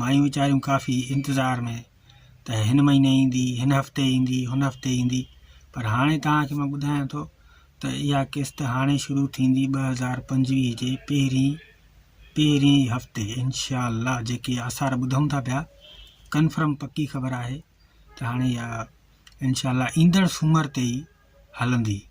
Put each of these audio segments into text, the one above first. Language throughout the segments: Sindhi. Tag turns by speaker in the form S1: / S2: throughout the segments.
S1: مايون ويچاريون ڪافي انتظار ۾ ته هن مهيني ايندي، هن هفتي ايندي، هن هفتي ايندي پر هاڻي توهان کي مان ٻڌايان ٿو ته اها قسط هاڻي شروع ٿيندي ٻه هزار پنجويهه جي پهرين پهرين هفتي انشاء الله جيڪي آثار ٻڌون ٿا پيا ڪنفرم پڪي خبر آهي ته هاڻي اها انشاء الله ايندڙ سومر تي ئي هلندي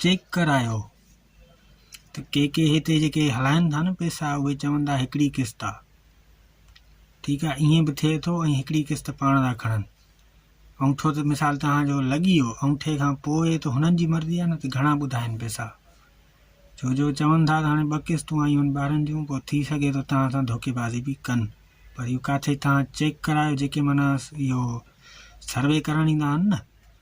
S1: چيڪ ڪرايو ته ڪي ڪي هتي جيڪي هلائن ٿا نه پئسا اهي چون ٿا هڪڙي قسط آ ٺيڪ آ ائين به ٿئي ٿو ۽ هڪڙي قسط پاڻ ٿا کڻن انگوٺو ته مثال توهان جو لڳي ويو انگوٺي کان پوء ته هنن جي مرضي آ نه ته گهڻا ٻڌائن پئسا ڇو جو چون ٿا ته هاڻي ٻه قسطون آيون آهن ٻارن جون پوء ٿي سگهي ٿو توهان سان ڌوڪي بازي به ڪن پر اهو ڪاٿي توهان چيڪ ڪرايو جيڪي معنيٰ اهو سروي ڪرڻ ايندا آهن نه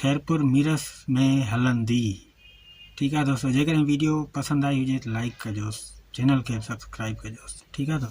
S1: خيرپور ميرس ۾ هلندي ٺيڪ آ دوستو جيڪڏهن ويڊيو پسند آئي هجي ته لائڪ ڪجوس چينل کي به سبسڪرائب ڪجوس ٺيڪ آ دوستو.